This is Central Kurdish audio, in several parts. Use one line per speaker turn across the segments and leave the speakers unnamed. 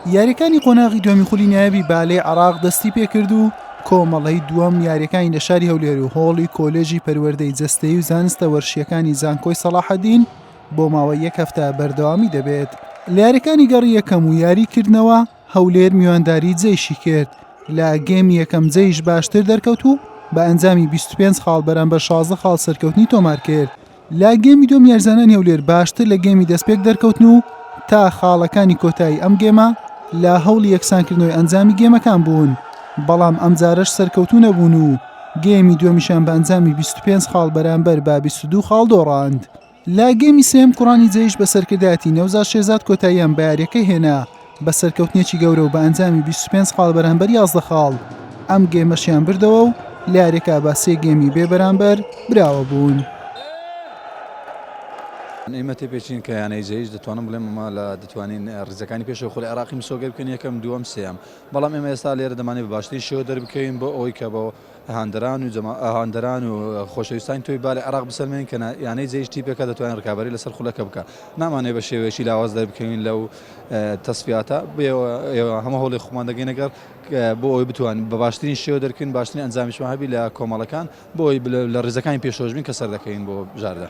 یاریەکانی قۆناغی دومی خولی نایابی بالەی عراق دەستی پێکرد و کۆمەڵەی دووەم یاریەکانی لە شاری هەولێر و هۆڵی کۆلێژی پەروەردەی جستەی و زانستە وەرشیەکانی زانکۆی سەڵاحەدین بۆ ماوە یەک هەفتە بەردەوامی دەبێت لە یاریەکانی گەڕی یەکەم و یاری کردنەوە هەولێر میوانداری جەیشی کرد لە گەمی یەکەم جەیش باشتر دەرکەوت و بە ئەنجامی 25 خاڵ بەرامبەر 16 خاڵ سەرکەوتنی تۆمار کرد لە گێمی دووەم یارزانانی هەولێر باشتر لە گێمی دەستپێک دەرکەوتن و تا خاڵەکانی کۆتایی ئەم گێمە لە هەوڵی یەکسانکردنەوەی ئەنجامی گێمەکان بوون بەڵام ئەمجارەش سەرکەوتوو نەبوون و گێمی دووەمیشان بە ئەنجامی 25 خاڵ بەرامبەر بە 22 خاڵ دۆڕاند لە گێمی سێم کوڕانی جەیش بە سەرکردایەتی نەوزاد شێزاد کۆتاییان بە یاریەکە هێنا بە سەرکەوتنێکی گەورە و بە ئەنجامی 25 خاڵ بەرامبەر 11 خاڵ ئەم گێمەشیان بردەوە و لە یاریەکە بە سێ گێمی بێ بەرامبەر براوە بوون.
ئێمە تێپێچین کە یانەی جەیش دەتوانم بڵێم ئەمە لە دەتوانین ڕزەکانی پێش خۆل عێراقی مسۆگەر بکەن یەکەم دووەم سێم بەڵام ئێمە ئێستا لێرە دەمانێت بە باشترین شێوە دەربکەوین بۆ ئەوەی کە بەوە هاندەران و هاندەران و خۆشەویستانی تۆپی بالە عێراق بسەلمێنین کە یانەی جێیش تیپێکە دەتوانێت ڕکابەری لەسەر خولەکە بکە نامانێ بە شێوەیەکی لاواز دەربکەوین لەو تەسفیاتە هەمە هەوڵی خۆمان دەگەین نەگەر بۆ ئەوی بتوان بە باشترین شێوە دەرکەین باشترین ئەنجامیشمان هەبی لە کۆمەڵەکان بۆی لە ڕێزەکانی پێشۆش بین کە سەر دەکەین بۆ بژاردە.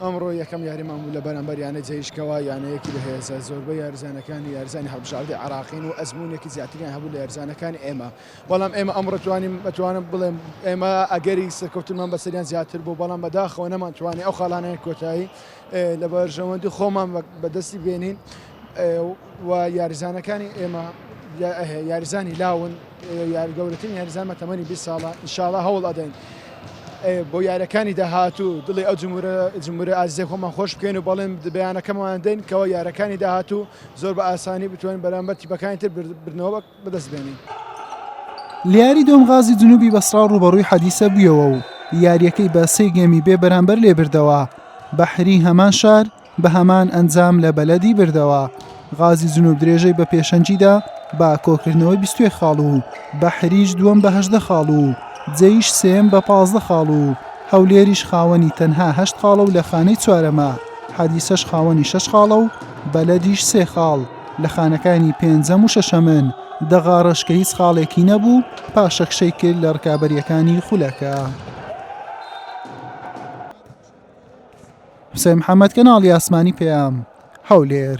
ئەمڕۆ یەکەم
یاریمان بوو لە بەرامبەر یانەی جەیش کەوا یانەیەکی بەهێزە زۆربەی یاریزانەکانی یاریزانی هەڵبژاردەی عێراقین و ئەزموونێکی زیاتریان هەبوو لە یاریزانەکانی ئێمە بەڵام ئێمە ئەمڕۆ توانیم بەتوانم بڵێم ئێمە ئەگەری سەرکەوتنمان بەسەریان زیاتر بوو بەڵام بەداخەوە نەمانتوانی ئەو خاڵانەیە کۆتایی لە بەرژەوەندی خۆمان بەدەستی بێنین و یاریزانەکانی ئێمە یاریزانی لاون یارگەورەترین یاریزانمە تەمەنی 20 ساڵە ئیشاڵە هەوڵ ئەدەین بۆ یارەکانی داهاتوو دڵی ئەو جمورە جمورە ئازیزە خۆمان خۆش بکەین و بەڵێن دبیانەکەمان دەین کەەوە یارەکانی داهاتوو زۆر بە ئاسانی بتوانین بەرامبەر تیپەکانی تر بردنەوە بەدەست بێنین.
لە یاری دووەم غازی جنوبی بەسڕا ڕووبەڕووی حەدیسە بوویەوە و یاریەکەی بە سێ گێمی بێ بەرامبەر لێ بردەوە بەحری هەمان شار بە هەمان ئەنجام لە بەلەدی بردەوە غازی جنوب درێژەی بە پێشەنگیدا بە کۆکردنەوەی بیستێ خاڵ و بەحریش دووەم بە هەژدە خاڵ و جێیش سێم بە پازدە خاڵ و هەولێریش خاوەنی تەنها هەشت خاڵە و لە خانەی چوارەمە حەدیسەش خاوەنی شەش خاڵە و بەلەدیش سێ خاڵ لە خانەکانی پێنجەم و شەشەمن دەغاڕش کە هیچ خاڵێکی نەبوو پاشەکشەی کرد لە ڕکابەریەکانی خولەکە. حسێن محەممەد کەناڵی ئاسمانی پێیام هەولێر.